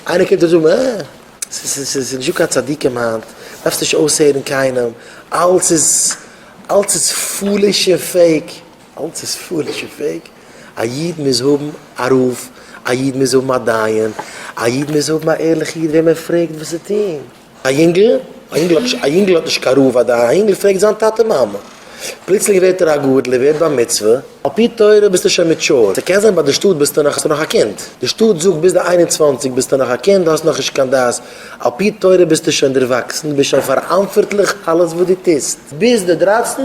איינער קומט און זאגט מיר, אה, ס'איז נישטא קיין צדיקים היינט, דארפסט נישט אויסהערן קיינעם, אלץ איז, אלץ איז פוליש און פעיק. אלץ איז פוליש און פעיק? א איד מוז האבן א רב, א איד מוז האבן א דיין, א איד מוז האבן א ערליכע איד וועם ער פרעגט וואס צו טון. א יונגל? א יונגל האט נישט א יונגל האט נישט קיין רב אדער א יונגל פרעגט זיין טאטע מאמע. פלוצלינג ווערט ער א גדול ער ווערט בר מצוה. על פי תורה ביסטו שוין מעטשור. ס'קען זיין ביי די שטאט ביסטו נאך האסטו נאך א קינד. די שטאט זאגט ביז די איין און צוואַנציק ביסטו נאך א קינד האסט נאך נישט קיין דעת. על פי תורה ביסטו שוין דערוואקסן ביסט שוין פאראנטווארטליך אלעס וואס דו טוסט. ביז די דרייצן.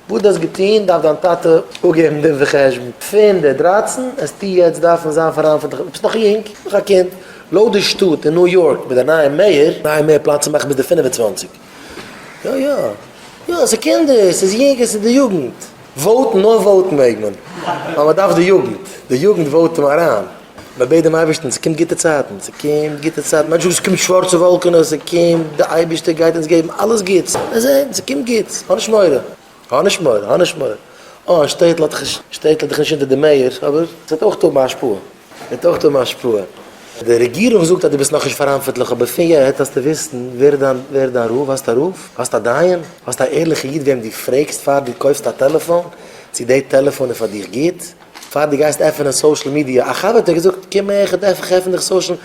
וואס דו האסט געטון דארף דיין טאטע אפגעבן דין וחשבון פון די דרײַצן, עס טוה יעצט דארפן זיין פאראנפערטליך, דו ביסט נאך יונג, נאך א קינד, לויט די שטאט אין ניו יארק מיט די נייע מעיאר, נייע מעיאר פלאנט צו מאכן ביז די פֿינף און צוואַנציק, יא יא יא ס'איז קינדער, ס'איז יונג, עס איז די יוגנט, וואוטן, נאר וואוטן מעג מען, אבער מען דארף די יוגנט, די יוגנט וואוט אים אריין. מען בעט דעם אייבערשטן, ס'קומט גוטע צייטן, ס'קומט גוטע צייטן, מענטשן זאגן ס'קומט שווארצע וואלקענעס, ס'קומט, די אייבערשטער גייט אונז געבן אלעס גוטס, וועסט זען, ס'קומט גוטס, האב נישט מורא, האב נישט מורא, האב נישט מורא, אה, אין שטעטל האט זיך, שטעטל האט זיך נישט אונטער די מעיאר, אבער ס'וועט אויך האבן א השפעה, וועט אויך האבן א השפעה. די רעגירונג זאגט אז דו ביסט נאכנישט פאראנטווארטליך, אבער פון יעצט וועסטו וויסן ווער איז דיין, ווער איז דיין רב, האסט א רב? האסט א דיין? האסט א ערליכע איד וועם דו פרעגסט פאר דו קויפסט א טעלעפאן, צו די טעלעפאן איז פאר דיך גוט? פאר דו גייסט עפענען סאושעל מידיע, א חבר האט דיר געזאגט קום אהער איך דארף איך עפן דיך סאושעל,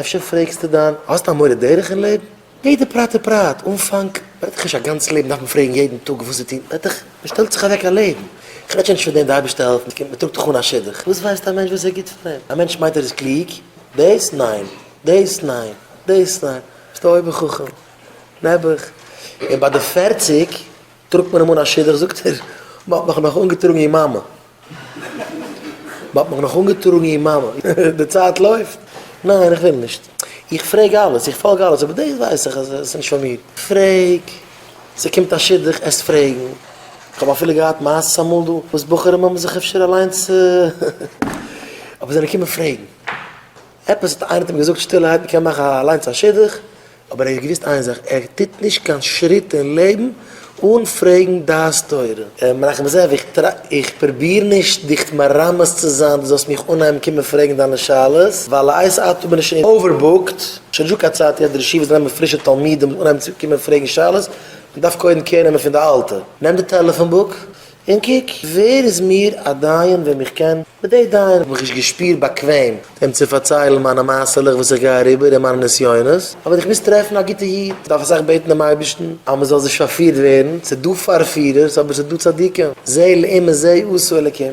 אפשר פרעגסטו דאן, האסט א מורה דרך אין לעבן? יעדע פרט ופרט, אנפאנג, מען רעדט דאך נישט א גאנץ לעבן דארף מען פרעגן יעדן טאג וואס צו טון, מען רעדט דאך, מען שטעלט זיך אוועק א לעבן, איך רעד שוין נישט פון דעם די אייבערשטער העלפט מען קומט מען טראגט דאך אן א שידוך, וואס ווייסט א מענטש וואס איז גוט פאר אים, א מענטש מיינט ער איז קלוג, דאס ניין, דאס ניין, דאס ניין, ביסט א אויבער חכם, נעבעך, און ביי די פערציג טראָגט מען אים אָן אַ שידוך, זאָגט ער, מע האָט מיך נאָך אָנגעטראָגן איר מאַמע. מע האָט מיך נאָך אָנגעטראָגן איר מאַמע. די צײַט לױפֿט. נײן, איך װיל נישט. איך פֿרעג אַלעס, איך פֿאָלג אַלעס, אָבער דאָס װײס איך, אַז עס איז נישט פֿאַר מיר. פֿרעג, ס'קומט אַ שידוך, עסט פֿרעגן. כ'האָב אַפֿילו געהאַט מעשׂות אַ מאָל דאָ, װאָס בחורים האָבן זיך אפֿשר אַלײנס, אָבער זײַנען געקומען פֿרעגן. עפּעס האָט אײנער האָט אים געזאָגט שטילערהײט, מע קען מאַכן אַלײנס אַ שידוך, אבער ער האט געוואוסט איין זאך, ער טוט נישט קיין שריט אין לעבן אן פרעגן דעת תורה. מנחם זאב, איך טריי, איך פרוביר נישט דיך מרמז צו זיין דו זאלסט מיך אנהייבן קומען פרעגן דיינע שאלות, ווייל לעת עתה בין איך שוין אווערבוקט, שוין נישטא קיין צייט יעצט, די ישיבה זאל נעמען פרישע תלמידים אנהייבן צו קומען פרעגן שאלות, מען דארף קודם קער נעמען פון די אלטע. נעם די טעלעפאן בוק, און קוק, ווער איז מיר א דיין וועם איך קען, מיט די דיין האב איך נישט געשפירט באקוועם אים צו פארציילן מיינע מעשה'לעך וואס איך גיי אריבער און מיינע נסיונות, אבער איך מוז טרעפן א גוטע איד, כ'דארף אסאך בעטן דעם אייבערשטן אז מ'זאל זיך פארפירט ווערן, ס'איז דא פארפירערס אבער ס'איז דא צדיקים, זה לאמור זה עשו אלוקים.